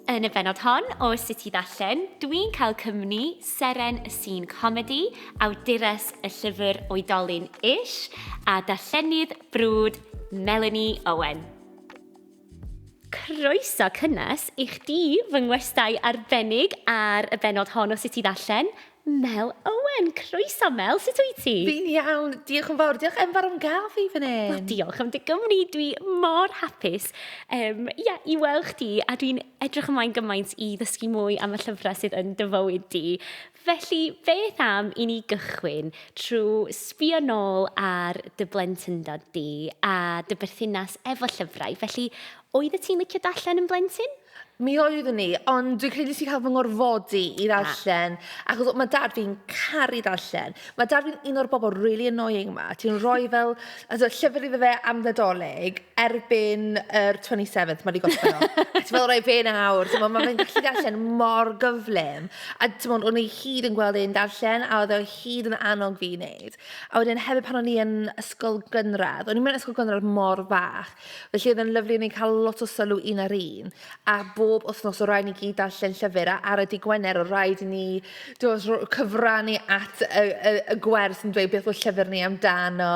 Yn y benod hon o Sut i Ddarllen, dwi'n cael cymni Seren y Sîn Comedi, awdures y llyfr Oedolyn Ish, a darllenydd brwd Melanie Owen. Croeso cynnes i chdi fy ngwestai arbennig ar y benod hon o Sut i Ddarllen, Mel Owen! Croeso Mel, sut wyt ti? Fi'n iawn, diolch yn fawr. Diolch Enver am gael fi fan hyn. Wel, diolch am dy gymni. Dwi mor hapus um, yeah, i weld chdi a dwi'n edrych ymlaen gymaint i ddysgu mwy am y llyfrau sydd yn dy fywyd di. Felly, beth am i ni gychwyn trwy sbio nôl ar dy blentyndod di a dy berthynas efo llyfrau. Felly, oedd y ti'n licio darllen yn blentyn? Mi oeddwn i, ond dwi'n credu nes i cael fy ngorfodi i ah. ddarllen, achos mae dad fi'n caru darllen. Mae dad fi'n un o'r bobl really annoying ma. Ti'n rhoi fel, as a llyfr iddo fe am ddodolig, erbyn yr 27th, mae wedi gorffen o. A ti'n meddwl, roi fe nawr, ti'n meddwl, mae fe'n gallu darllen mor gyflym. A ti'n meddwl, o'n i hyd yn gweld e'n darllen, a oedd o hyd yn annog fi i wneud. A wedyn hefyd pan o'n i yn ysgol gynradd, o'n i'n mynd ysgol gynradd mor fach, Felly oedd e'n lyfli, o'n ni'n cael lot o sylw un ar un, a bob wythnos o rhaid ni gyd darllen llyfr, a ar y dydd Gwener o rhaid i ni dos, cyfrannu at y, y, y gwers yn dweud beth oedd llyfr ni amdano,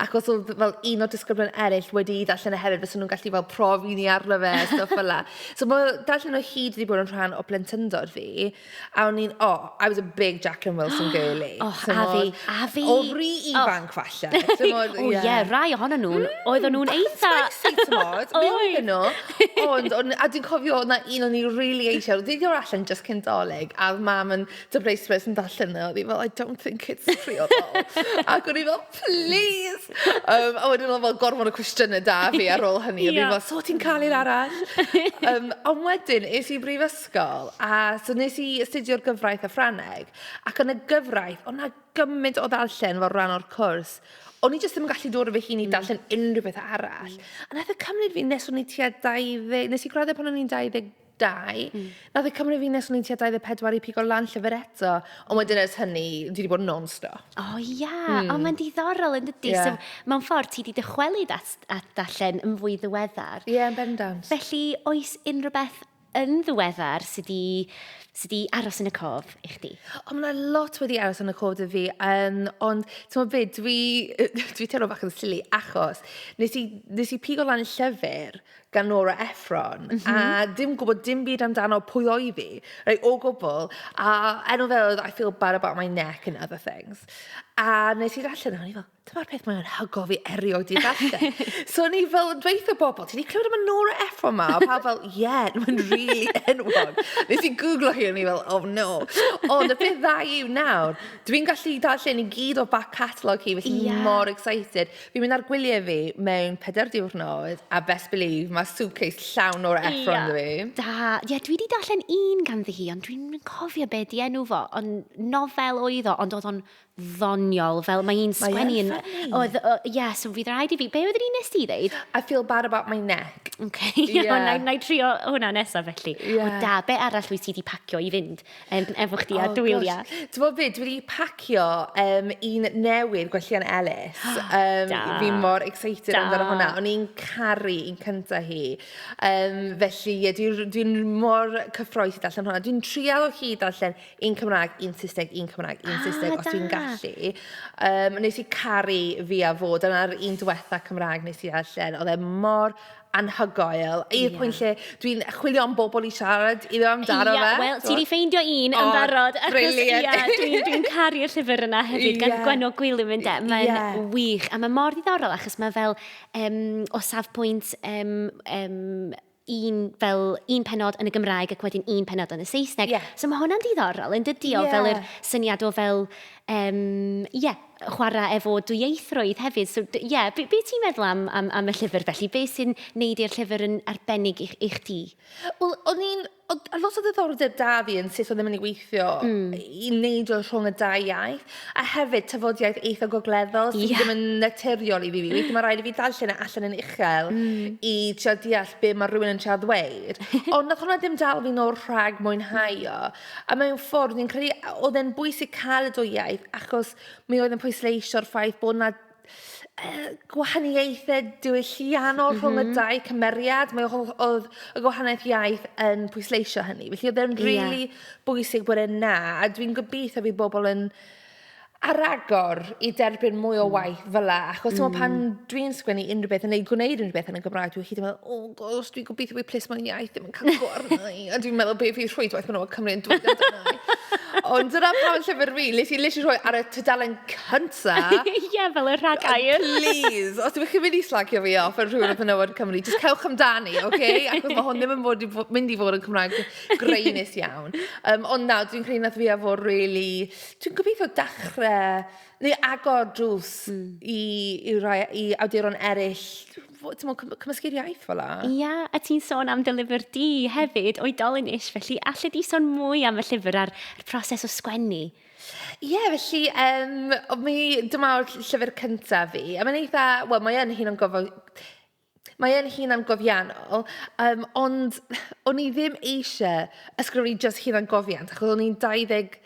ac os oedd fel un o disgyblion eraill wedi i ddarllen e hefyd, fes nhw'n gallu fel profi ni arno fe, stuff fel la. So mae darllen o hyd wedi bod yn rhan o blentyndod fi. A o'n i'n, oh, I was a big Jacqueline Wilson girlie, timod... Och, a fi, a fi! O ry ifanc, falle, timod, ie. O ie, rai ohonyn nhw, oedden nhw'n eitha... Bach yn spicy, timod, mi oedden nhw. Ond, o'n, a dwi'n cofio, oedd 'na un o'n i rili eisiau, oedd 'di dod allan jyst cyn 'Dolig, a oedd Mam yn dyfreisrwydd yn darllen o, a oedd hi fel, I don't think it's priodol. Ac o'n i fel, plîs! Yym, a wedyn oedd 'na fel gormod o cwestiynau 'da fi ar ôl hynny, a o'n i fel, so ti'n cael un arall? Yym, ond wedyn, es i i brifysgol, ysgol a so wnes i astudio'r gyfraith a Ffrangeg ac yn y gyfraith oedd 'na gymaint o ddarllen fel rhan o'r cwrs o'n i jyst ddim yn gallu dod o fy hun i mm. darllen unrhyw beth arall. Mm. A nath e cymryd fi nes o'n i tua 20... Nes i graddio pan o'n i'n 22. Mm. Nath e cymryd fi nes o'n i'n tua 24 i pigo lan llyfr eto. Ond wedyn ers hynny, dwi wedi bod non-stop. O oh, ia, yeah. mm. o mae'n diddorol yn dydy. Yeah. So, mae'n ffordd ti wedi dychwelyd at, at darllen yn fwy ddiweddar. Ie, yeah, yn bendant. Felly, oes unrhyw beth yn ddiweddar sydd wedi sy di aros yn y cof i chdi? O, mae yna lot wedi aros yn y cof dy fi, um, ond ti'n meddwl beth, dwi, dwi teimlo bach yn silly achos nes i, nes i pigo lan llyfr gan Nora Ephron, mm -hmm. a mhm. dim gwybod dim byd amdano pwy o'i fi, rei, o gwbl, a enw fe oedd I feel bad about my neck and other things. A nes i allan, o'n i fel, Dyma'r peth mae'n hygo fi erioed 'di darllen. So o'n i fel yn dweutha bobl, ti 'di clywed am y Nora Ephron 'ma? Oedd pawb fel, ie, mae'n rili enwog. Nes i gwglo hi, o'n i fel, oh no. Ond y peth dda yw nawr, dwi'n gallu darllen i gyd o back catalogue hi, felly fi mor excited. Fi'n mynd ar gwyliau fi mewn pedair diwrnod, a best believe, mae suitcase llawn Nora Ephron 'da fi. Da. Ie, dwi 'di darllen un ganddi hi, ond dwi'n cofio be 'di enw fo. Ond nofel oedd o, ond oedd o'n ddoniol, fel mae hi'n sgwennu yn... Oedd, ie, so fydd rhaid i fi... Be oedd yr un nes ti ddeud? I feel bad about my neck. Ok, iawn, na, na i trio hwnna nesaf felly. Yeah. O da, be arall wyt ti wedi pacio i fynd um, efo chdi oh, a dwylia? Ti'n bod byd, dwi wedi pacio um, un newydd gwellian Ellis. Um, da. Fi mor excited da. amdano hwnna. O'n i'n caru un cynta hi. Um, felly, ie, yeah, dwi'n dwi mor cyffroes i darllen hwnna. Dwi'n trial o hyd darllen Un Cymraeg, un Saesneg, un Cymraeg, un Saesneg... Ah, da! ...os dwi'n gallu. Yym, wnes i caru Fi a Fo. Dyna'r un diwetha Cymraeg wnes i ddarllen. Oedd e mor anhygoel, i'r... Ie. ...pwynt lle dwi'n chwilio am bobl i siarad iddo amdano fe. Ie, wel, ti 'di ffeindio un yn barod. O, brilliant! Achos, ie, dwi'n dwi'n caru'r llyfr yna hefyd... Ie. ...gan Gwenno Gwilym, ynde? Ie. Mae'n wych, a mae mor ddiddorol achos mae fel, yym, o safbwynt, yym, yym, un fel un penod yn y Gymraeg ac wedyn un penod yn y Saesneg. Yeah. So mae hwnna'n diddorol yn dydi o yeah. fel yr syniad o fel, um, yeah, chwarae efo dwyieithrwydd hefyd. So, ie, yeah, be, be ti'n meddwl am, am, am y llyfr felly? Be sy'n neud i'r llyfr yn arbennig i, i chdi? Wel, o'n i'n... A lot o ddiddordeb da fi yn sut oedd yn mynd i weithio mm. i neud o rhwng y dau iaith. A hefyd, tafodiaith eitha gogleddol... Ie... sy ddim yn naturiol i fi. Weithiau mae'n rhaid i fi darllen e allan yn uchel... mm ...i trio deall be mae rhywun yn trio ddweud. Ond wnaeth hwnna ddim dal fi nôl rhag mwynhau o. A mewn ffordd, fi'n credu oedd e'n bwysig cael y dwy iaith achos mi oedd e'n pwysleisio'r ffaith bod 'na... yy gwahaniaethe diwylliannol... M-hm. ...rhwng y dau cymeriad. Mae o ho- odd y gwahaniaeth iaith yn pwysleisio hynny. Felly odd e'n rili... Ie. ...bwysig bod e 'na a dwi'n gobeithio fydd bobl yn ar agor i derbyn mwy o waith... Mm. ...fela achos... Mm. ...t'mo' pan dwi'n sgwennu unrywbeth yn neu gwneud unrywbeth yn y Gymraeg dwi hyd yn meddwl o Gosh, dwi'n gobeithio bod plismon iaith ddim yn cael go arna i, a dwi'n meddwl beth fydd rhwydwaith menywod Cymru yn dweud amdana i. Ond dyna pam yn llyfr fi, nes i literally rhoi ar y tudalen cynta. Ie, yeah, fel y rhag air. Please, os ydych chi'n mynd i slagio fi off ar rhywbeth yn yw'r Cymru, just cewch amdani, oce? Okay? Ac mae hwn ddim yn bod i, mynd i fod yn Cymraeg greinus iawn. Um, ond na, dwi'n credu nath fi a fod really... Dwi'n gobeithio dachrau, neu agor drws mm. i, i, rai, i awduron eraill timod, cym cymysgu'r iaith fel la. Ia, a ti'n sôn am dy lyfr di hefyd, oedolyn ish, felly allu di sôn mwy am y llyfr a'r proses o sgwennu? Ie, yeah, felly, um, mi, dyma o'r llyfr cyntaf fi, a mae'n eitha, wel, mae yn hun o'n gofod, mae yn hun am gofiannol, um, ond o'n i ddim eisiau ysgrifennu just hun am gofiant, achos o'n i'n 20,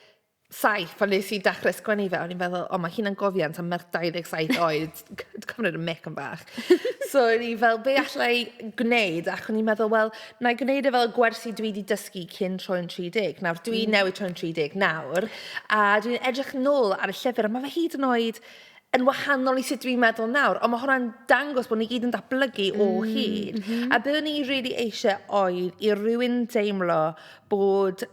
saith pan wnes i dechrau sgwennu fe, o'n i'n meddwl, o, mae hunangofiant am merch 27 oed, ti'n cymryd y mic yn bach. So o'n i fel, be alla i gwneud? Ac o'n i'n meddwl, wel, na i gwneud e fel y gwersi dwi wedi dysgu cyn troi'n 30. Nawr, dwi mm. newydd troi'n 30 nawr, a dwi'n edrych nôl ar y llyfr, a mae fe hyd yn oed yn wahanol i sut dwi'n meddwl nawr, ond mae hwnna'n dangos bod ni gyd yn datblygu o mm, hyd. Mm -hmm. A byddwn ni really eisiau oed i rywun deimlo bod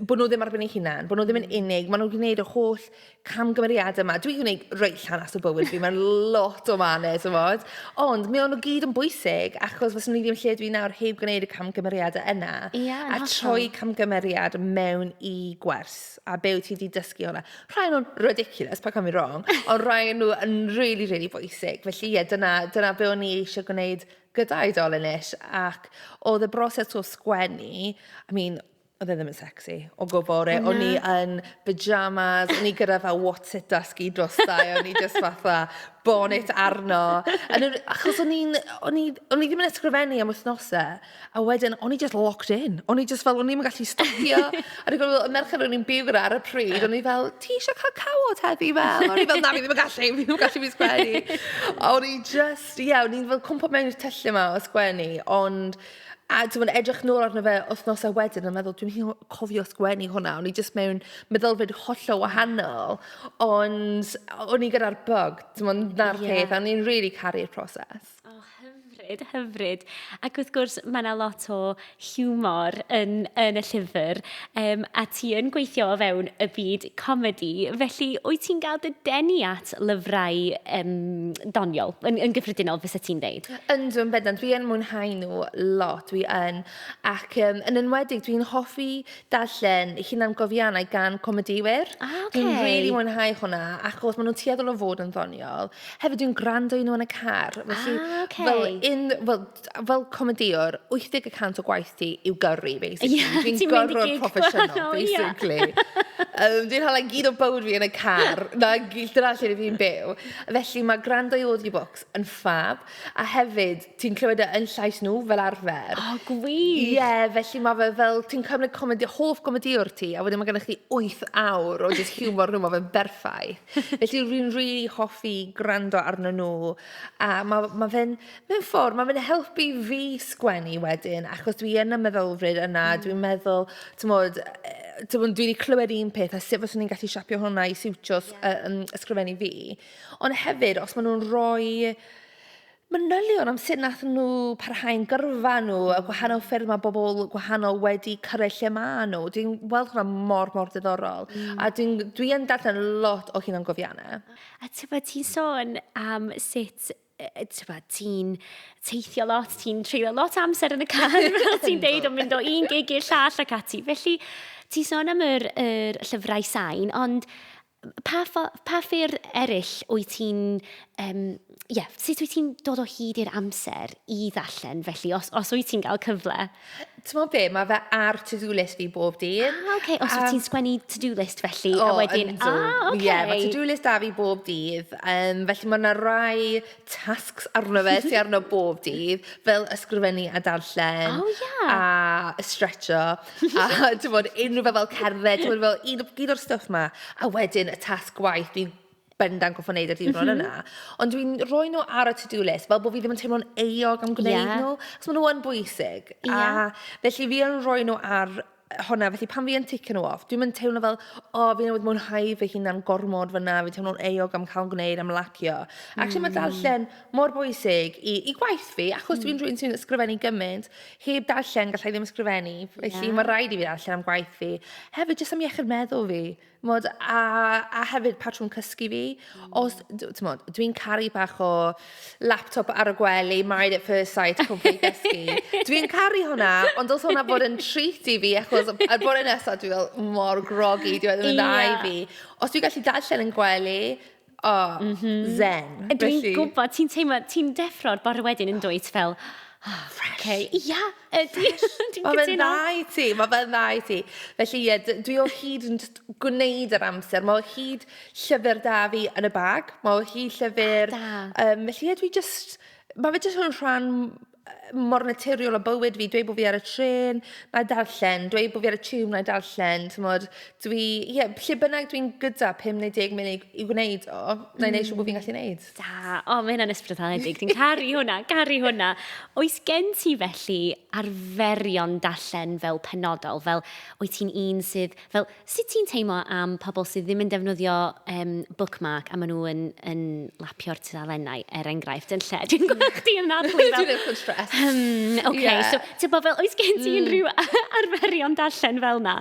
bod nhw ddim ar ben ei hunan, bod nhw ddim yn hmm. unig, maen nhw'n gwneud y holl camgymeriadau yma. Dwi'n gwneud reit llanas o bywyd fi, mae'n lot o manes, ymod. Ond mi o'n nhw gyd yn bwysig, achos fes nhw ddim lle dwi'n nawr heb gwneud y camgymeriadau yna. Yeah, a troi camgymeriad mewn i gwers, a be wyt ti wedi dysgu hwnna. Rhaid nhw'n ridiculous, pa cam i wrong, ond rhaid nhw yn really, really bwysig. Felly ie, yeah, dyna, dyna be o'n i eisiau gwneud gyda oedolyn ish ac oedd y broses o sgwennu, I mean, oedd e ddim yn sexy o gwbl rili... Na. ...o'n i yn pyjamas, o'n i gyda fel what's it dusky drosta' i, o'n i jyst fatha bonnet arno a o'n i... achos o'n i'n... o'n i... o'n i ddim yn ysgrifennu am wythnosau a wedyn o'n i jyst locked in, o'n i jyst fel o'n i ddim yn gallu stopio a dwi'n cofio y merched o'n i'n byw gyda ar y pryd o'n i fel "ti eisiau cael cawod heddi Mel?" a o'n i fel "na fi ddim yn gallu, fi ddim yn gallu, fi'n sgwennu" a o'n i jyst... So ie, o'n i'n fel cwmpo mewn i'r tyllau 'ma o sgwennu, ond... a timod, edrych nôl arno fe wythnosau wedyn a meddwl "dwi'm hyd yn oed cofio sgwennu hwnna, o'n i jyst mewn meddylfryd hollol wahanol". Ond o'n i gyda'r bug, timod, 'na'r peth... ie ...a o'n i'n rili caru'r proses. O, hyfryd, hyfryd. Ac wrth gwrs, mae 'na lot o... hiwmor yn, yn y llyfr, um, a ti yn gweithio o fewn y byd comedi, felly wyt ti'n gael dy denu at lyfrau um, doniol, yn, yn gyffredinol fysa ti'n dweud? Yndw, yn bendant, dwi yn mwynhau nhw lot, dwi yn, ac um, yn enwedig dwi'n hoffi darllen hunan gofiannau gan comediwyr. Ah, okay. Dwi'n rili really mwynhau hwnna, achos maen nhw'n tueddol o fod yn ddoniol. Hefyd dwi'n gwrando i nhw yn y car, felly ah, okay. fel, un, fel fel comedïwr, 80 y cant o gwaith ti yw gyrru, basically. Ie, ti'n mynd i gig gwahanol, ie! Dwi'n gyrrwr proffesiynol, basically. Yym, dwi'n hala gyd o bywyd fi yn y car, 'na gy- dyna lle rydw i'n byw. Felly, mae gwrando i audiobooks yn ffab, a hefyd, ti'n clywed e yn llais nhw, fel arfer. O, gwych! Ie, felly mae fe fel, ti'n cymryd comedi- hoff gomedïwr ti, a wedyn mae gennych chdi wyth awr o jyst hiwmor nhw, mae fe'n berffaith. Felly, rwy'n rili hoffi gwrando arnyn nhw, a ma' ma' fe'n... Mewn ffordd, mae fe'n helpu fi sgwennu wedyn, achos dwi yn y meddylfryd yna... mm ...a dwi'n meddwl, timod, yy, timod, dwi 'di clywed un peth, a sut fyswn i'n gallu siapio hwnna i siwtio s- yy yym ysgrifennu fi. Ond hefyd, os maen nhw'n rhoi manylion am sut wnaethon nhw parhau'n gyrfa nhw, y gwahanol ffyrdd mae bobl gwahanol wedi cyrraedd lle maen nhw, dwi'n weld hwnna mor, mor ddiddorol. Mm. A dwi'n, dwi yn darllen lot o hunangofiannau. A tybed ti'n sôn am sut ti'n teithio lot, ti'n treulio lot amser yn y car, fel ti'n deud, o'n mynd o un gig i'r llall ac ati. Felly, ti'n sôn am yr, yr llyfrau sain, ond pa, pa ffyr eraill wyt ti'n... Um, yeah, sut wyt ti'n dod o hyd i'r amser i ddarllen felly, os, os wyt ti'n cael cyfle? T'mod be', ma' fe ar to do list fi bob dydd. Ah, oce, os wyt ti'n sgwennu to do list felly, a wedyn... O, yndw, ie, ma' to do list da fi bob dydd, um, felly ma' na rai tasks arno fe sy arno bob dydd, fel ysgrifennu a darllen... O, ie. ...a stretcho, a t'mod, unrhyw beth fel cerdded, t'mod fel un o- un o'r stwff 'ma. A wedyn y tasg gwaith, fi'n... bendant gorfod wneud y diwrnod mm -hmm. yna. Ond dwi'n rhoi nhw ar y to-do list, fel bod fi ddim yn teimlo'n euog am gwneud yeah. nhw, cos maen nhw yn bwysig. Yeah. A felly fi yn rhoi nhw ar hwnna, felly pan fi yn ticio nhw off, dwi'n mynd teimlo fel, o, oh, fi newydd mwynhau fy hunan gormod fyna, fi'n teimlo'n euog am cael gwneud, am lacio. Mm. Actually, mae darllen mor bwysig i, i gwaith fi, achos mm. dwi'n rhywun sy'n ysgrifennu gymaint, heb darllen gallai ddim ysgrifennu, felly yeah. mae rhaid i fi darllen am gwaith fi. Hefyd, jyst am iechyd meddwl fi, Timod, a a hefyd patrwm cysgu fi. Os d- timod, dwi'n caru bach o laptop ar y gwely, married at first sight, cwmpo i gysgu. Dwi'n caru hwnna, ond dylse hwnna fod yn treat i fi, achos y bore nesaf dwi fel mor groggy, dyw e ddim yn dda i fi. Os dwi'n gallu darllen yn gwely... O, mm -hmm. zen. Dwi'n gwybod, ti'n teimlo, ti'n deffro'r bore wedyn yn dweud fel, oh, fresh. Okay. Ia, ydy. Mae fe'n dda i ti, mae fe'n dda i ti. Felly ie, dwi o hyd yn gwneud yr amser. Mae o hyd llyfr da fi yn y bag. Mae o hyd llyfr... Da. Um, felly ie, dwi just... Mae fe just yn rhan mor naturiol â bywyd fi, dweud bod fi ar y trên, wna i darllen, dweud bod fi ar y tiwb, wna i darllen, timod. Dwi, ie, lle bynnag dwi'n gyda 50 munud i, i wneud o, wna i wneud siŵr bod fi'n gallu wneud. Da, o, mae hynna'n ysbrydoledig, dwi'n caru hwnna, caru hwnna. Oes gen ti felly arferion darllen fel penodol, fel wyt ti'n un sydd, fel Sut ti'n teimlo am pobl sydd ddim yn defnyddio um, bookmark a maen nhw yn, yn lapio'r tudalennau, er enghraifft, yn lle? Dwi'n gweld chdi yn nadlu fel... Dwi'n eich yn stres. Um, okay. yeah. so, ti'n bod fel, oes gen ti mm. unrhyw arferion darllen fel na?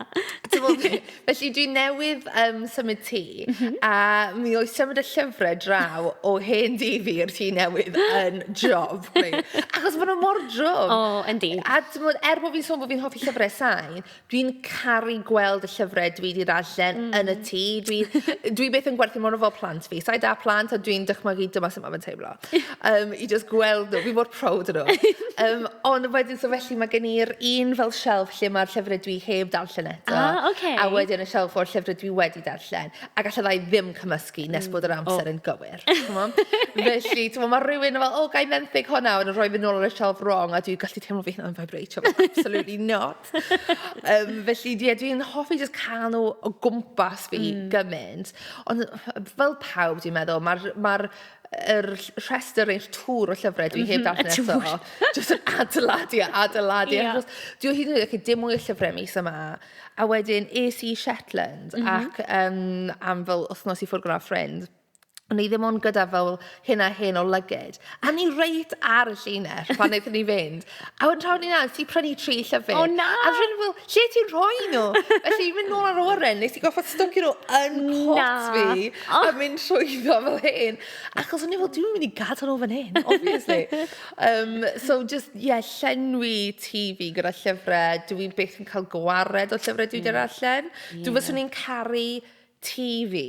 felly dwi newydd um, symud ti, mm -hmm. a mi oes symud y llyfrau draw o hen di fi i'r ti newydd yn job. Achos maen nhw mor drwm. O, oh, yndi. A ti'n bod, er bod fi'n sôn bod fi'n hoffi llyfrau sain, Dwi'n caru gweld y llyfrau dwi 'di darllen yn y tŷ. Dwi... dwi byth yn gwerthu nhw fel plant fi. Sa i 'da plant a dwi'n dychmygu dyma sut mae fe'n teimlo. Yym, i jyst gweld nhw. Fi mor proud o nhw. Yym, ond wedyn, so felly mae gen i'r un fel shelf lle mae'r llyfrau dwi heb darllen eto. Ah, okay. A wedyn y shelf o'r llyfrau dwi wedi darllen. Ac alla ddau ddim cymysgu nes bod yr amser yn gywir. Chimod? Felly, timod, mae rhywun fel, "O, ga i fenthyg hwnna?" A wedyn rhoi fe nôl ar y shelf wrong a dwi'n gallu teimlo fy hunan yn faibreitio fel absolutely not. um, felly, ie, dwi'n hoffi just cael nhw o gwmpas fi mm. gymaint. Ond fel pawb, dwi'n meddwl, mae'r ma yr rhestr neu'r tŵr o llyfrau dwi heb mhm, darllen eto. Just yn adeiladu a adeiladu. Yeah. Dwi'n hyd yn oed, dim mwy o llyfrau mis yma. A wedyn, es i Shetland mm -hmm. ac um, am fel wythnos i ffwrdd gyda ffrind. O'n ni ddim ond gyda fel hyn a hyn o lygid. A o'n ni reit ar y llinell pan wnaethon ni fynd. A wedyn tra o'n ni'n aros, ti prynu tri llyfr. O na! A rydyn fel, lle ti'n rhoi nhw? Felly, mynd nôl ar oren, nes i goffa stocio nhw yn pot fi. A mynd trwyddo fel hyn. Achos o'n i fel, dwi'n mynd i gadael nhw fan hyn, obviously. um, so, just, ie, yeah, llenwi tŷ fi gyda llyfrau. Dwi byth yn cael gwared o llyfrau dwi wedi mm. darllen. Dwi fyswn i'n caru tŷ fi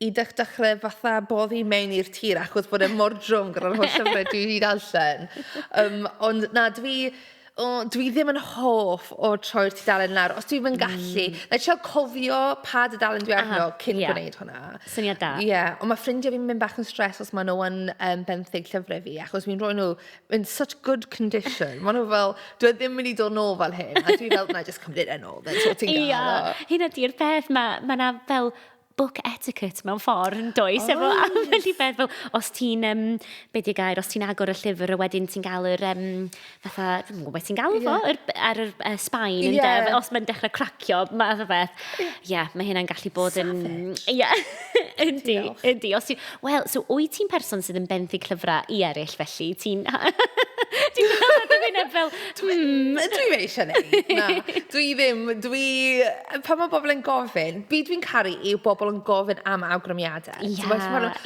i dech- dechrau fatha boddi mewn i'r tir achos bod e mor drwm gyda'r holl llyfrau dwi 'di darllen. Yym, ond na, dwi, o, dwi ddim yn hoff o troi'r tudalen lawr, os dwi'm yn gallu. Mm. Like, trio cofio pa dudalen dwi arno... Aha, ie. ...cyn gwneud hwnna. Syniad da. Ie, ond mae ffrindiau fi'n mynd bach yn stressed os maen nhw yn yym benthyg llyfrau fi, achos fi'n rhoi nhw in such good condition. Maen nhw fel, dwi e ddim mynd i dod nôl fel hyn. A dwi fel, na, just cymryd e nôl, then so ti'n gael o. Hyn ydy'r peth, mae ma na fel book etiquette mewn ffordd yn does. Oes. Efo ambell i beth fel, os ti'n, um, be di gair, os ti'n agor y llyfr a wedyn ti'n gael yr, um, fatha, dwi'n gwybod beth ti'n gael fo, yeah. yr, ar yr uh, sbaen, yeah. ynde, os mae'n dechrau cracio, math o beth. Ie, yeah, mae hynna'n gallu bod yn... Ie. Yeah. Yndi, yndi. Os ti... Wel, so wyt ti'n person sydd yn benthyg llyfrau i eraill felly? Ti'n... ti'n cael dy wyneb fel... Hmm. Dwi fe eisiau neud. Na, dwi ddim. Dwi... Pan mae bobl yn gofyn, be dwi'n caru yw bobl yn gofyn am awgrymiadau. Ia,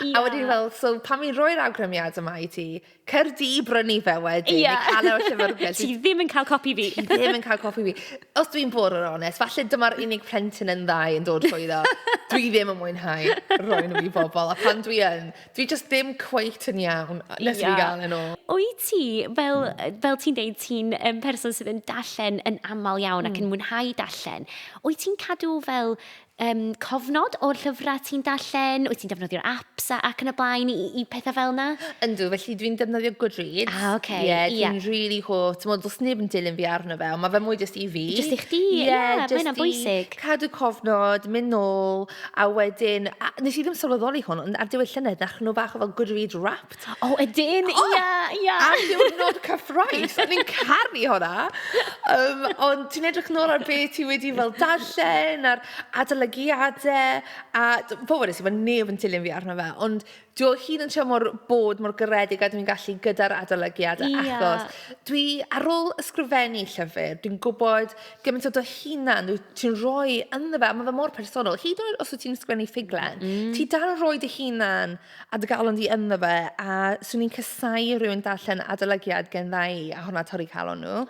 ia. A wedyn fel, so pan mi'n rhoi'r awgrymiadau yma i ti, Cer di i brynu fe wedyn. Ie. Neu cael e o'r llyfrgell. Ti ddim yn cael copi fi. Ti ddim yn cael copi fi. Os dwi'n bod yn onest, falle dyma'r unig plentyn yn ddau yn dod trwy ddo. Dwi ddim yn mwynhau roi nhw i bobl. A pan dwi yn, dwi just ddim cweit yn iawn nes yeah. i gael yn ôl. O'i ti, fel, fel ti'n deud, ti'n um, person sydd yn dallen yn aml iawn mm. ac yn hmm. mwynhau dallen. O'i ti'n cadw fel um, cofnod o'r llyfrau ti'n darllen, wyt ti'n defnyddio'r apps ac yn y blaen i, i pethau fel yna? Yndw, felly dwi'n defnyddio Goodreads. Ah, oce. Okay. Yeah, dwi'n yeah. really hoff. Ti'n modd, os neb yn dilyn fi arno fe, ond mae fe mwy jyst i fi. Jyst i chdi, ie, yeah, yeah, mae'n bwysig. Cadw cofnod, mynd nôl, a wedyn, a, nes i ddim sylweddoli hwn, ond ar diwedd llynedd, nach nhw bach o fel Goodreads rap Egypt. O, oh, ydyn, ia, oh, ia. Yeah. Am diwrnod cyffroes, o'n i'n caru hwnna. Um, ond ti'n edrych nôl ar beth ti wedi fel darllen, a'r adolygiadau, a pobl nes i fod neb yn tilyn fi arno fe, ond dwi o hyd yn trio mor bod mor garedig a dwi'n gallu gyda'r adolygiad yeah. achos dwi ar ôl ysgrifennu llyfr, dwi'n gwybod gymaint o dy hunan ti'n rhoi ynddo fe, a mae fe mor personol. Hyd yn oed os wyt ti'n ysgrifennu ffuglen, mm. ti dal yn rhoi dy hunan a dy galon di ynddo fe a 'swn i'n casau i rywun darllen adolygiad gen ddau ohona torri calon nhw.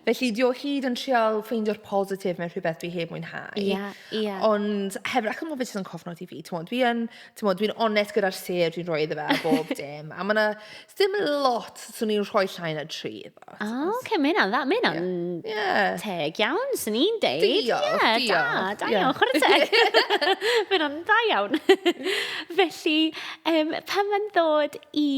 Felly di o hyd yn trial ffeindio'r positif mewn rhywbeth dwi heb mwynhau... Ie, ie. ...Ond hefyd achos ma' fe jyst yn cofnodi fi t'mod dwi yn t'mod dwi'n onest gyda'r sêr dwi'n rhoi iddo fe a bob dim a ma' 'na sdim lot 'swn i'n rhoi llai na tri. O, oce, mae hynna'n dda. Mae hynna'n yeah. teg iawn, sy'n ni'n deud. Diolch, yeah, diolch. Da, da iawn, chwarae teg. mae hynna'n da iawn. Felly, um, pan mae'n dod i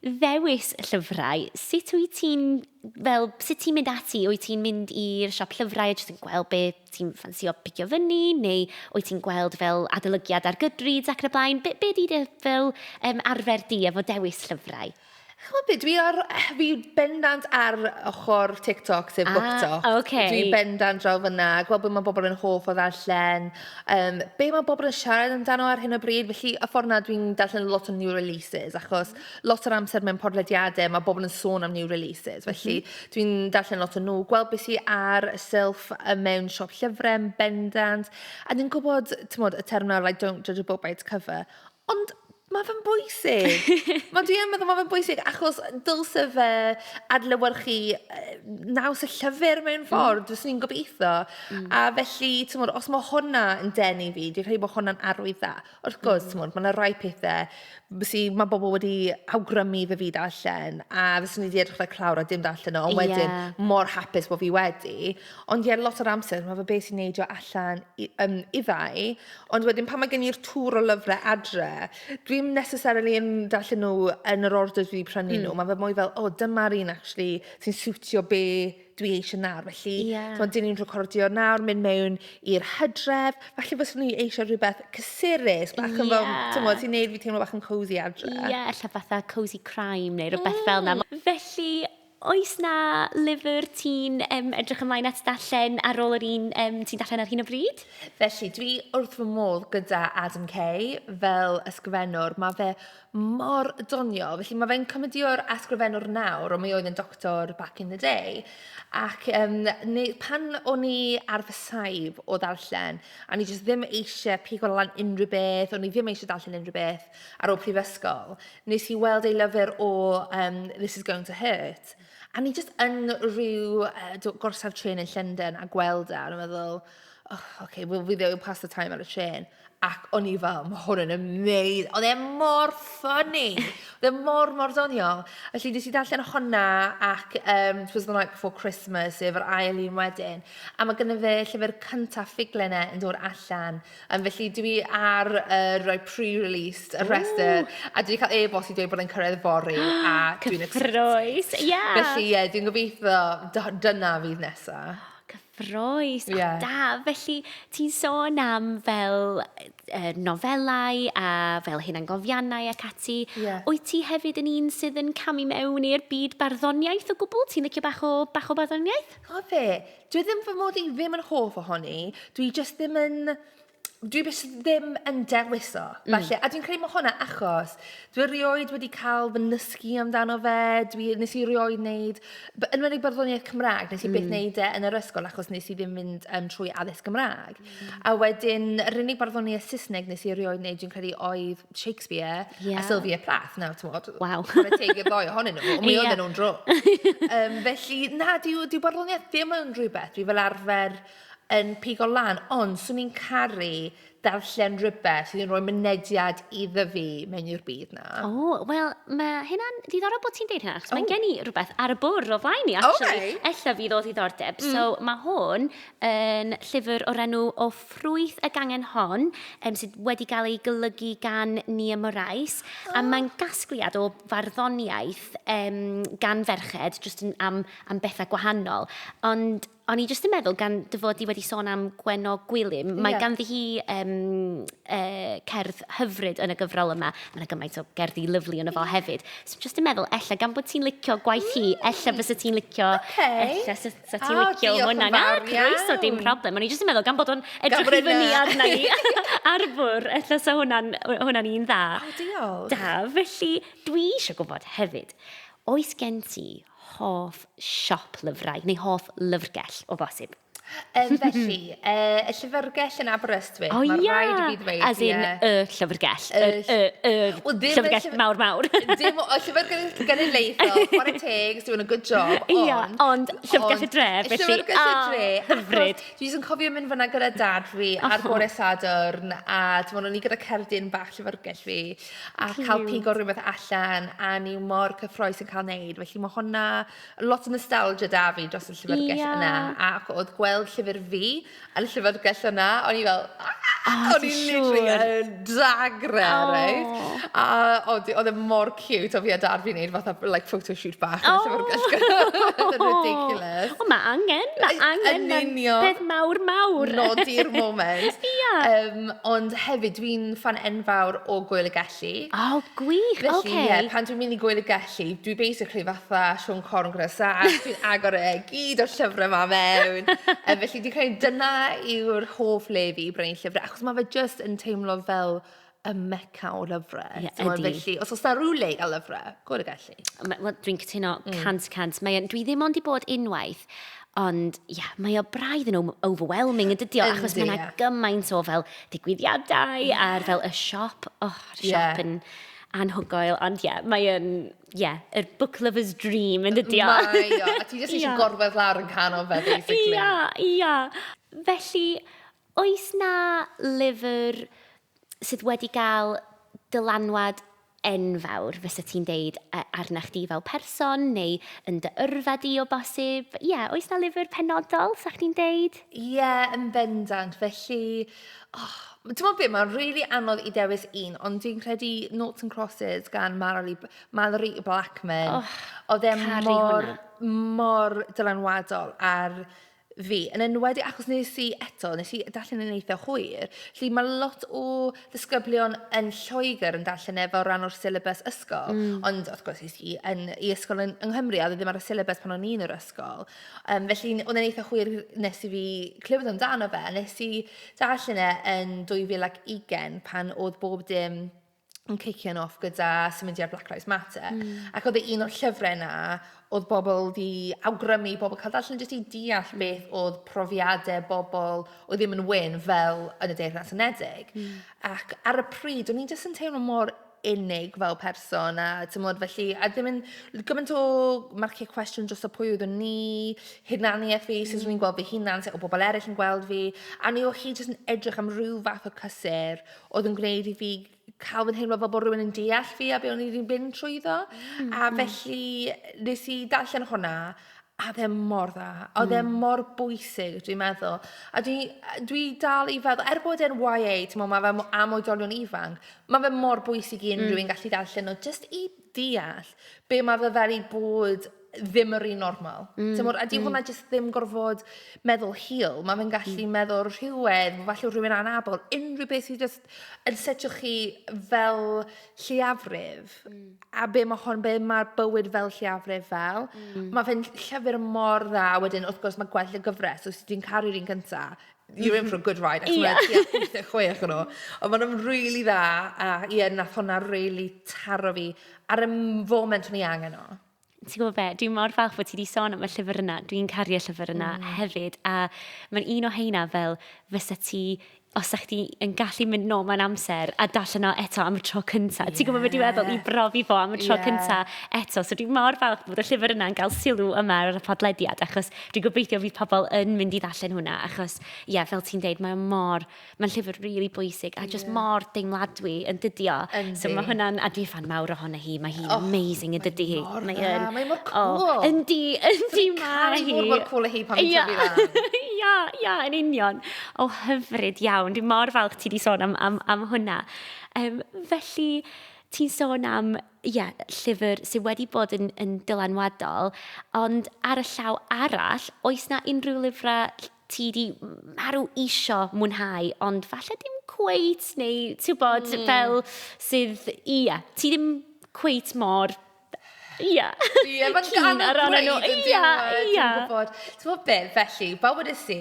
ddewis llyfrau, sut wyt ti'n, fel, sut ti'n mynd ati? Wyt ti'n mynd i'r siop llyfrau a jyst yn gweld be ti'n ffansio picio fyny? Neu wyt ti'n gweld fel adolygiad ar Goodreads ac yn y blaen? Be, be di fel um, arfer di efo dewis llyfrau? Chimod be, dwi ar... fi bendant ar ochr TikTok sef BookTok... A ok. ...Dwi bendant draw fan'na, gweld be ma' bobl yn hoff o ddarllen, yym, be ma' bobl yn siarad amdano ar hyn o bryd, felly y ffordd 'na dwi'n darllen lot o new releases, achos lot o'r amser mewn podlediadau ma' bobl yn sôn am new releases, felly dwi'n darllen lot o nhw, gweld be sy ar y silff mewn siop llyfrau yn bendant, a ni'n gwybod, timod, y term 'na like don't judge a book by its cover. Ond mae fe'n bwysig. Mae... dwi yn meddwl mae fe'n bwysig achos dylse fe adlewyrchu yy naws y llyfr mewn ffordd... mm ...fyswn i'n gobeithio... mm ...a felly timod os mae hwnna yn denu fi dwi'n credu bod hwnna'n arwydd dda. Wrth gwrs... mm ...timod mae 'na rai pethau sy mae bobl wedi awgrymu iddo fi ddarllen a fyswn i 'di edrych like clawr a dim darllen o... ie ...ond wedyn mor hapus bod fi wedi. Ond ie lot o'r amser ma' fe be' sy'n neidio allan i yym iddai. Ond wedyn pan mae gen i'r tour o lyfrau adre, dwi ddim necessarily yn darllen nhw yn yr order dwi 'di prynu nhw... mm ...mae fe mwy fel "o dyma'r un acshyli sy'n siwtio be dwi eisiau nawr". Felly... ie ...timod dan ni'n recordio nawr, mynd mewn i'r hydref, falle fyswn i eisiau rhywbeth cysurus... ie ...bach yn fel timod sy'n gwneud fi teimlo bach yn cosy adre... ie ella fatha cosy crime neu rhywbeth fel 'na. Felly... Oes 'na lyfr ti'n um, edrych ymlaen at darllen ar ôl yr un um, ti'n darllen ar hyn o bryd? Felly, dwi wrth fy modd gyda Adam Kay fel ysgrifennwr. Mae fe mor doniol. Felly, mae fe'n cymydio'r ysgrifennwr nawr, ond mae oedd yn doctor back in the day. Ac um, neu, pan o'n i ar fy saib o ddarllen, a ni jyst ddim eisiau pigo lan unrhyw beth, o'n i ddim eisiau darllen unrhyw beth, ar ôl prifysgol, nes i weld ei lyfr o um, This is going to hurt. A ni just yn rhyw uh, gorsaf tren yn Llundain a gweld e, a meddwl, oh, okay, well, fi ddim yn pass the time ar y tren. Ac o'n i fel, mae hwn yn amazing. Oedd e mor ffynnu. Oedd e mor, mor doniol. Felly, nes i ddarllen hwnna ac um, Twas the Night Before Christmas, sef yr ail un wedyn. A mae gyda fe llyfr cyntaf ffuglen e yn dod allan. Yym, felly dwi ar, yy, roi pre-released y rhestr... Ww! ...a dwi 'di cael e-bost i dweud bod e'n cyrraedd fory a dwi'n excited. Cyffrous! Ie! Felly ie, dwi'n gobeithio dy- dyna fydd nesa. Cyffrous! Ie. O, da! Felly, ti'n sôn am fel yy yy nofelau a fel hunangofiannau ac ati... Ie. ...wyt ti hefyd yn un sydd yn camu mewn i'r byd barddoniaeth o gwbl? Ti'n licio bach o bach o barddoniaeth? Chimod be? Dyw e ddim fy mod i ddim yn hoff ohoni, dwi jyst ddim yn... Dwi jyst ddim yn dewis o, mm. falle. A dwi'n credu mae hwnna achos, dwi erioed wedi cael fy nysgu amdano fe, dwi, nes i erioed wneud, yn enwedig barddoniaeth Cymraeg, nes i mm. byth wneud e yn yr ysgol achos nes i ddim mynd um, trwy addysg Gymraeg. Mm. A wedyn, yr unig barddoniaeth Saesneg nes i erioed wneud, dwi'n credu, oedd Shakespeare... Ie. ...a Sylvia Plath. Nawr, timod... Waw. ...chwarae teg i'r ddou ohonyn nhw, ond mi oedden nhw'n drwg. Yym, felly, na, dyw, dyw barddoniaeth ddim yn rhywbeth dwi fel arfer yn pigo lan, ond 'swn i'n caru darllen rhywbeth sydd yn rhoi mynediad iddo fi mewn i'r byd 'na. O, wel, ma' hynna'n ddiddorol bod ti'n deud hynna, achos mae gen i rhywbeth ar y bwrdd o flaen i, actually. O, reit. Ella fydd o ddiddordeb. So, ma' hwn yn llyfr o'r enw O Ffrwyth y Gangen Hon, um, sydd wedi cael ei golygu gan Nia Morais, oh. a mae'n gasgliad o farddoniaeth um, gan ferched, jyst yn am, am bethau gwahanol. Ond O'n i jyst yn meddwl, gan dy fod i wedi sôn am Gwenno Gwilym, mae yeah. ganddi hi um, uh, cerdd hyfryd yn y gyfrol yma. Mae'n gymaint o gerddi lyflu yn y fo hefyd. So jyst yn meddwl, ella gan bod ti'n licio gwaith hi, ella bys y ti'n licio, okay. ella sydd Sa ti'n oh, licio hwnna? Na, croeso, dim problem. O'n i jyst yn meddwl, gan bod o'n edrych i fyny arna ni ar fwr, ella sa hwnna'n hwnna un dda. O, oh, diolch. Da, felly dwi eisiau gwybod hefyd, oes gen ti hoff siop lyfrau neu hoff lyfrgell o bosib? Um, felly, uh, y llyfrgell yn Aberystwyth Prestwich. O, Mae rhaid i fi ddweud, As in, yeah. y llyfrgell. Y, y, y, well, llyfrgell llyf... mawr mawr. Dim o llyfrgell genedlaethol, chwarae teg, is doing a good job. Ond, Ia, ond llyfrgell y dre, felly. Llyfrgell y ah, dre. Oh, hyfryd. Dwi jyst yn cofio mynd fyna gyda dad fi oh. ar gore sadwrn, a dim ond o'n i gyda cerdyn bach llyfrgell fi, a Cute. cael pigo rhywbeth allan, a ni mor cyffroes yn cael neud. Felly mae hwnna, lot o nostalgia da fi dros y llyfrgell yeah. yna, a oedd gweld llyfr fi, Yn y llyfrgell yna, o'n i fel aah! O ti'n siŵr? O'n i literally yn dagrau oh. reit. A oedd e mor cute o fi a dad fi'n neud fatha like photo shoot bach yn y llyfrgell gyda. Oedd e'n ridiculous. O, mae angen, mae angen. Yn union. Peth mawr mawr. Nodi'r moment. Ia. Um, ond hefyd, dwi'n fan enfawr o Gwyl y Gelli. Gelli. O, gwych, oce. Felly, ie, pan dwi'n mynd i Gŵyl y Gelli, dwi basically fatha Siôn Corn gyda sash, dwi'n agor e gyd o'r llyfrau 'ma mewn. Yy, felly dwi'n credu dyna yw'r hoff le fi, brynu llyfrau, achos mae fe jyst yn teimlo fel y Mecca o lyfrau. Ie, ydi. Felly, os oes 'na ryw le i gael lyfrau, Gŵyl y Gelli. Wel, dwi'n cytuno 100 mm. cant. Mae, dwi ddim ond i bod unwaith, ond ia, yeah, mae o braidd yn overwhelming yn dydio, achos mae yna gymaint o fel digwyddiadau yeah. a'r fel y siop, oh, y siop yeah. yn anhygoel, ond ie, yeah, mae yn, ie, yeah, y book lover's dream yn dydio. Mae o, a ti jyst eisiau gorwedd lawr yn canol fe, basically. Ia, ia. Felly, oes na lyfr sydd wedi cael dylanwad enfawr, fysa ti'n deud, arna chdi fel person neu yn dy yrfa di o bosib? Ie, yeah, oes na lyfr penodol, sa chdi'n deud? Ie, yeah, yn bendant. Felly, oh, ti'n meddwl beth, mae'n rili really anodd i dewis un, ond dwi'n credu Noughts and Crosses gan Mallory, Mallory Blackman. Oh, oedd e mor, mor dylanwadol ar fi, yn enwedig achos nes i eto, nes i darllen yn eitha hwyr, lle mae lot o ddisgyblion yn Lloegr yn darllen e fel rhan o'r syllabus ysgol, mm. ond wrth gwrs nes i yn, i ysgol yn, yng Nghymru, a ddim ar y syllabus pan o'n i'n yr ysgol. Um, felly, oedd e'n eitha hwyr nes i fi clywed amdano fe, nes i darllen e yn 2020 pan oedd bob dim yn cician off gyda symudiad Black Lives Matter. Mm. Ac oedd e un o'r llyfrau yna, oedd bobl di awgrymu, bobl cael darllen jyst i deall mm. beth oedd profiadau bobl oedd ddim yn wyn fel yn y Deyrnas Unedig. Mm. Ac ar y pryd, o'n i'n jyst yn teimlo mor unig fel person a tymod felly a ddim yn gymaint o marciau cwestiwn dros y pwy oeddwn ni hunaniaeth fi sut o'n i'n gweld fy hunan sut o bobl eraill yn gweld fi a ni o hi jyst yn edrych am rhyw fath o cysur oedd yn gwneud i fi cael fy nheimlo fel bod rhywun yn deall fi a be o'n i 'di mynd trwyddo. A felly, wnes i darllen hwnna, a oedd e mor dda. A oedd e mor bwysig, dwi'n meddwl. A dwi dwi dal i feddwl, er bod e'n YA, timod, mae fe mo- am oedolion ifanc, mae fe mor bwysig i unrhyw un gallu darllen o, jyst i... deall be mae fe fel i bod ddim yr un normal. Mm, Timod, a 'di mm. hwnna jyst ddim gorfod meddwl hil. Mae fe'n gallu mm. meddwl rhywedd, falle rhywun anabl, unrhyw beth sydd jyst yn setio chi fel lliafrif. Mm. A be mae hon, be mae'r bywyd fel lliafrif fel. Mm. Mae fe'n llyfr mor dda. Wedyn, wrth gwrs, mae gwell y gyfres. Os ti'n caru'r un cyntaf, you're in for a good ride achos mae tua 86 o nhw. Ond maen nhw'n rili dda a ie, wnaeth hwnna rili taro fi ar y foment o'n i angen o. Ti'n gwybod be, dwi'n mor falch bod ti wedi sôn am y llyfr yna. Dwi'n caru y llyfr yna mm. hefyd. A mae'n un o heina fel fysa ti os ydych chi yn gallu mynd nôl mewn amser a darllen o eto am y tro cynta. Yeah. Ti'n gwybod beth dwi'n meddwl? I brofi fo am y tro yeah. cynta eto. So dwi'n mor falch bod y llyfr yna'n cael sylw yma ar y podlediad achos Dwi'n gobeithio fydd pobl yn mynd i ddarllen hwnna, achos, ie, yeah, fel ti'n deud, mae'n mor, mae'n llyfr rili really bwysig, a yeah. just mor deimladwy yn dydio. Yndi. So mae hwnna'n, a dwi fan mawr ohono hi, mae hi'n oh, amazing yn dydi hi. Mae hi'n... Mae mor cool. Oh, yndi, yndi mae hi. Dwi'n mor cool hi pan ti'n tyfu lan. Ia, ia, yn union. O, oh, hyfryd iawn. Dwi'n mor falch ti di sôn am, am, am hwnna. Um, felly, ti'n sôn am ie, llyfr sydd wedi bod yn, yn dylanwadol, ond ar y llaw arall, oes na unrhyw lyfrau ti di marw isio mwynhau, ond falle dim cweit, neu ti'n bod mm. fel sydd, ia, ti ddim cweit mor Ia. Ia, mae'n gan o gwneud yn diwedd. Ia, ia. Dwi'n gwybod. Ti'n gwybod beth, felly, bawb wedi si,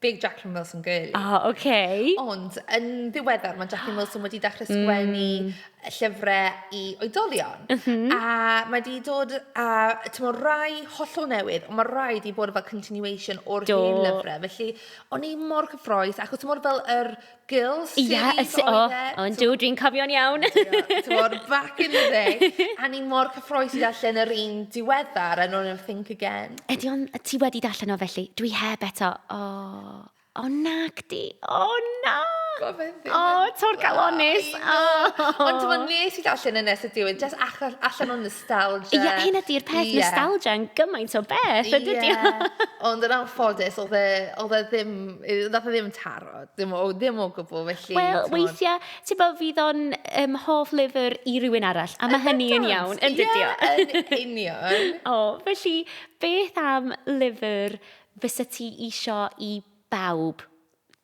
big Jacqueline Wilson girly. O, oh, oce. Okay. Ond yn ddiweddar, mae Jacqueline Wilson wedi dechrau mm. sgwennu mm. llyfrau i oedolion. Mm -hmm. A mae wedi dod a, tymo, rai hollol newydd, ond mae rai wedi bod fel continuation o'r hen lyfrau. Felly, o'n i mor cyffroes, achos tymo, fel yr Girl Series yeah, oedd e. Oh, oh, yn dw, dwi'n cofio'n iawn. Dwi'n back in the day. A ni mor cyffroes i ddarllen yr un diweddar, and on think again. Ydy o'n, ti wedi darllen o felly? Dwi heb eto. O, oh, o oh, nag di. O oh, na. O, oh, tor galonus. Oh. Ond ti'n nes i allan yn nes y diwedd, just allan o'n nostalgia. Ie, yeah, hyn ydy'r peth yeah. nostalgia yn gymaint o beth, ydy yeah. Ond yn anffodus, oedd e, e ddim, e ddim taro. Dim o, ddim o gwbl, felly... Wel, weithiau, ti'n bod, fydd o'n um, hoff lyfr i rywun arall, a mae hynny yn iawn, yn dydio. Ie, yn union. o, felly, beth am lyfr fysa ti isio i bawb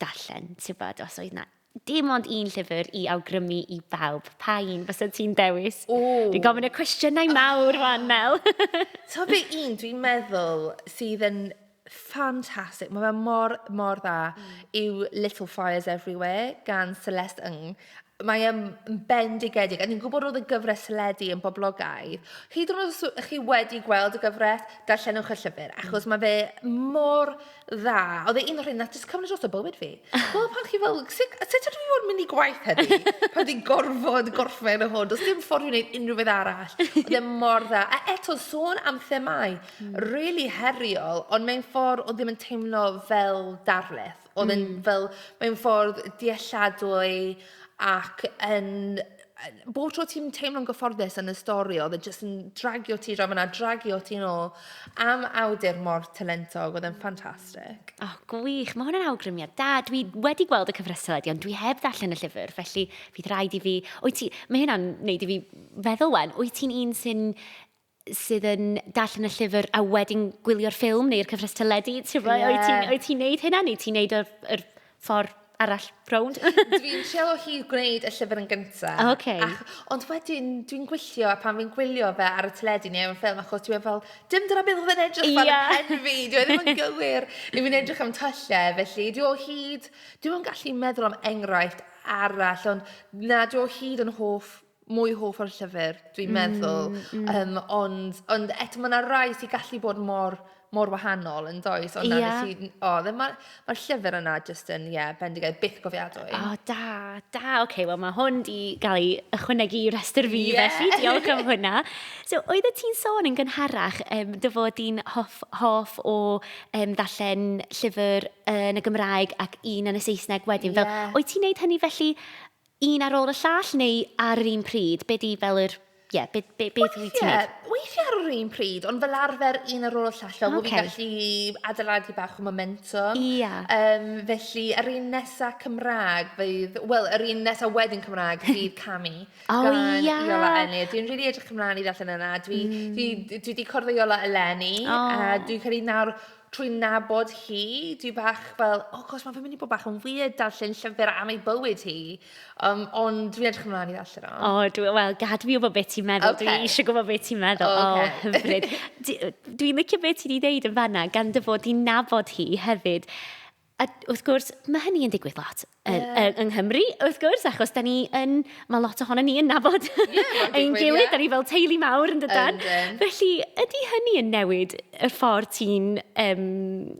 darllen, ti'n bod, os oedd na dim ond un llyfr i awgrymu i bawb. Pa un fysa ti'n dewis? O! Dwi'n gofyn y cwestiynau mawr, fan, Mel. Ta fe un, dwi'n meddwl, sydd yn Fantastic, mae fe mor, mor dda yw Little Fires Everywhere gan Celeste Ng. Mae e'n bendigedig, a ni'n gwybod oedd y gyfres teledu yn boblogaidd. Hyd yn oed os ydych chi wedi gweld y gyfres, darllenwch y llyfr, achos mae fe mor dda. Oedd e un o'r rhain wnaeth jyst cymryd drosto bywyd fi. Chimod pan chi fel, sut sut ydw i fod yn mynd i gwaith heddi pan fi'n gorfod gorffen hwn, does dim ffordd i wneud unrhyw beth arall. Oedd e mor dda. A eto, sôn am themâu. rili heriol, ond mewn ffordd oedd ddim yn teimlo fel darlith. Oedd yn mm. fel, mewn ffordd dealladwy ac yn... Bob tro ti'n teimlo'n gyfforddus yn y stori, oedd e jyst yn dragio ti draw fyna, dragio ti'n ôl am awdur mor talentog, oedd e'n ffantastig. O, oh, gwych, mae hwn yn awgrymiad da. Dwi wedi gweld y cyfresol ydi, ond dwi heb ddarllen y llyfr, felly fydd rhaid i fi... Wyt ti... Mae hynna'n neud i fi feddwl wen, wyt ti'n un sy'n sydd yn darllen y llyfr a wedyn gwylio'r ffilm neu'r cyfres teledu, ti'n rhoi, yeah. ti'n oed ti'n neud hynna neu ti'n neud yr, yr ffordd arall rownd? dwi'n trio hi gwneud y llyfr yn gyntaf. Oh, okay. Ac, ond wedyn, dwi'n gwyllio, a pan fi'n gwylio fe ar y teledu neu ar y ffilm, achos dwi'n fel, dim dyna beth oedd yn edrych fel yeah. y pen fi, dwi'n ddim yn gywir, neu fi'n edrych am tyllau, felly dwi'n o hyd, dwi'n gallu meddwl am enghraifft arall, ond na, dwi'n o hyd yn hoff mwy hoff o'r llyfr, dwi'n meddwl. Mm, mm. Um, ond, ond eto mae yna rai sy'n gallu bod mor, mor wahanol yn does. Ond yeah. Ti, oh, mae'r ma llyfr yna just yn, ie, yeah, bendigaidd, byth gofiadwy. O, oh, da, da. Oce, okay, wel mae hwn di gael ei ychwanegu i restr fi, yeah. felly diolch am hwnna. So, oedd y ti'n sôn yn gynharach um, dy fod di'n hoff, hoff o um, ddarllen llyfr yn y Gymraeg ac un yn y Saesneg wedyn. Yeah. Fel, oedd ti'n neud hynny felly Un ar ôl y llall neu ar yr un pryd? Be di fel yr... Ie, be, be, beth wyt ti'n wneud? Weithiau, weithiau ar yr un pryd, ond fel arfer un ar ôl y llall fel bod fi'n gallu adeiladu bach o momentum. Ie. Yym, felly, yr un nesa Cymraeg fydd... Wel, yr un nesa wedyn Cymraeg fydd Cami... O ie! ...gan Iola Eni. Dwi'n rili edrych ymlaen i ddarllen hwnna. Dwi, dwi, dwi 'di cwrdd â Iola eleni... O! ...a dwi'n credu nawr... trwy nabod hi, dwi bach fel, o gosh, mae fe'n mynd i bod bach yn weird darllen llyfr am ei bywyd hi. Um, ond dwi'n edrych ymlaen i ddarllen o. O, oh, dwi, wel, gad fi wybod beth ti'n meddwl. Okay. Dwi eisiau gwybod beth ti'n meddwl. O, okay. oh, hyfryd. Dwi'n licio beth ti'n ei ddeud yn fanna, gan dy fod i'n nabod hi hefyd. A wrth gwrs, mae hynny yn digwydd lot yeah. yng Nghymru, wrth gwrs, achos da ni yn, mae lot ohono ni yn nabod yeah, ein gilydd, yeah. da ni fel teulu mawr yn dydan. Um, Felly, ydy hynny yn newid y ffordd ti'n, um,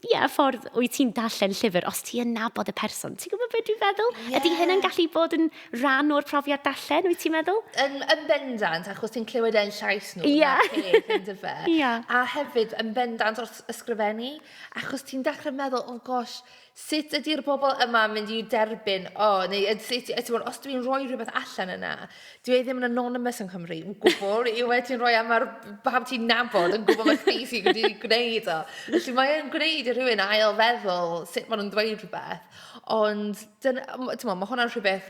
yeah, y ffordd wyt ti'n darllen llyfr, os ti'n nabod y person? Ti'n gwybod beth dwi'n feddwl? Yeah. Ydy hynny'n gallu bod yn rhan o'r profiad darllen, wyt ti'n meddwl? Yn, yn bendant, achos ti'n clywed e'n llais nhw, yeah. na peth, yn dyfe. Yeah. A hefyd, yn bendant wrth ysgrifennu, Achos ti'n dechrau meddwl, oh gosh, sut ydy'r bobl yma yn mynd i derbyn, o, neu yd- sut, yy, timod, os dw i'n rhoi rhywbeth allan yna, dyw e ddim yn anonymous yng Nghymru, o gwbl, yw e ti'n rhoi am ar pam ti'n nabod yn gwybod mae chdi sy'n wedi gwneud o. Felly mae e'n gwneud i rhywun ail feddwl sut maen nhw'n dweud rhywbeth. Ond, dyna, m- timod, mae hwnna'n rhywbeth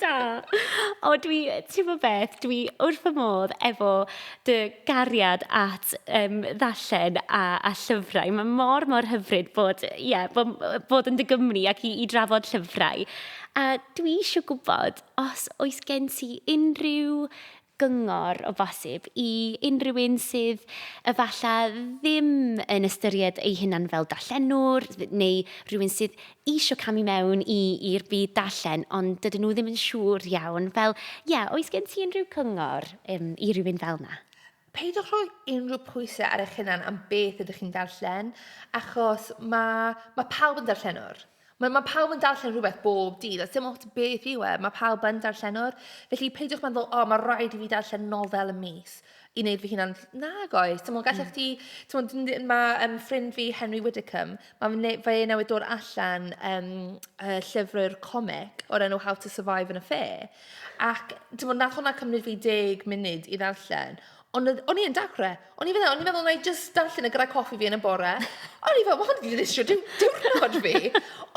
Da! O dwi, ti'n gwybod beth, dwi wrth fy modd efo dy gariad at um, ddarllen a, a llyfrau. Mae mor, mor hyfryd bod, ie, bod, bod yn dy gymni ac i, i drafod llyfrau. A dwi eisiau gwybod os oes gen ti unrhyw gyngor o bosib i unrhyw un sydd efalla ddim yn ystyried eu hunan fel darllenwr neu rhywun sydd eisiau camu mewn i, i'r byd darllen ond dydyn nhw ddim yn siŵr iawn. Fel, ie, yeah, oes gen ti unrhyw cyngor um, i rywun fel na? Peidiwch rhoi unrhyw pwysau ar eich hunan am beth ydych chi'n darllen, achos mae, mae pawb yn darllenwr. Mae, mae pawb yn darllen rhywbeth bob dydd, a 'sdim ots beth yw e, mae pawb yn darllenwr. Felly, peidiwch meddwl, "O, mae rhaid i fi darllen nofel y mis i wneud fy hunan..." Nag oes, timod, gallech mm. chdi... Timod, dwi'n dweud, mae um, ffrind fi, Henry Widdicombe, mae fe, fe newydd dod allan um, uh, llyfrau'r comic o'r enw How to Survive in a Fair. Ac, timod, nath hwnna cymryd fi deg munud i ddarllen, Ond oedd... o'n i yn dacre. O'n i fel 'na, o'n i'n meddwl wna i jyst darllen e gyda coffi fi yn y bore. O'n i fel, ma' hwn 'di dinistrio diw- diwrnod fi!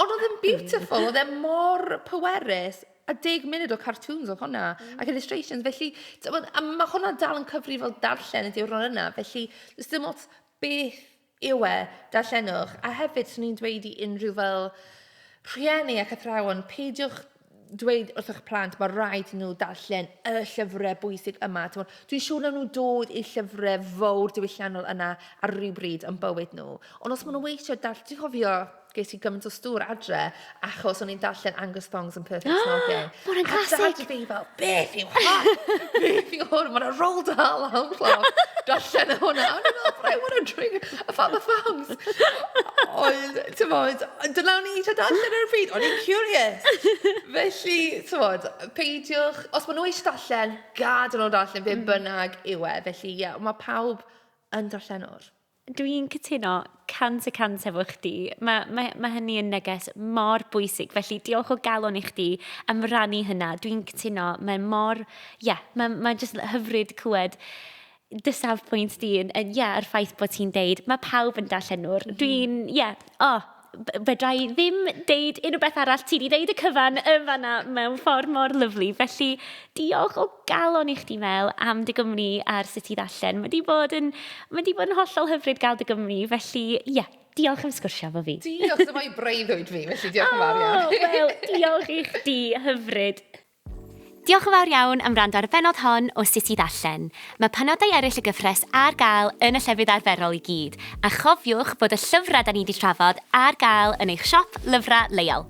Ond oedd e'n beautiful, oedd e mor pwerus, a deg munud o cartoons oedd hwnna, ac illustrations, felly, tibod, a ma' hwnna dal yn cyfrifol darllen y diwrnod yna, felly, does dim ots beth... yw e, darllenwch, a hefyd swn i'n dweud i unrhyw fel rhieni ac athrawon, peidiwch dweud wrth eich plant mae rhaid nhw darllen y llyfrau bwysig yma. Dwi'n siŵr na nhw dod i llyfrau fawr diwylliannol yna ar rhyw bryd yn bywyd nhw. Ond os maen nhw eisiau darllen, dwi'n cofio Ges i gymaint o stŵr adre achos o'n i'n darllen Angus Thongs and Perfect Snogging. Mae hwnna'n classic! A dad fi fel, beth yw hwn? beth yw hwn? Mae'n rol dal am clof. Darllen y hwnna. O'n i'n fel, I want to drink a fat the thongs. Ond, ti'n bod, dyna o'n i'n eisiau darllen ar y pryd. O'n i'n curious. Felly, ti'n bod, peidiwch... Os maen nhw eisiau darllen, gad yn ôl darllen, fe mm. bynnag yw e. Felly, ie, yeah, mae pawb yn darllenwr. Dwi'n cytuno 100 y 100 efo chdi. Mae, mae, mae hynny yn neges mor bwysig. Felly, diolch o galon i chdi am rannu hynna. Dwi'n cytuno, mae mor... Ie, yeah, mae, mae jyst hyfryd clywed dy safbwynt di, yn, yn, ie, yeah, yr ffaith bod ti'n deud, mae pawb yn darllenwr. Mm. Dwi'n, ie, yeah, o, oh, fedra i ddim deud unrhyw beth arall. Ti wedi deud y cyfan yn fanna mewn ffordd mor lyflu. Felly, diolch o galon i chdi, Mel, am dy gwmni ar sut i ddarllen. Mae wedi bod yn, mae wedi bod yn hollol hyfryd gael dy gwmni. Felly, ie, yeah, diolch am sgwrsio fo fi. Diolch, dyma'i breuddwyd fi, felly diolch yn fawr iawn. Oh, wel, diolch i chdi, hyfryd. Diolch yn fawr iawn am wrando ar y bennod hon o Sut i Ddarllen. Mae penodau eraill y gyfres ar gael yn y llefydd arferol i gyd, a chofiwch bod y llyfrau 'da ni 'di trafod ar gael yn eich siop lyfrau leol.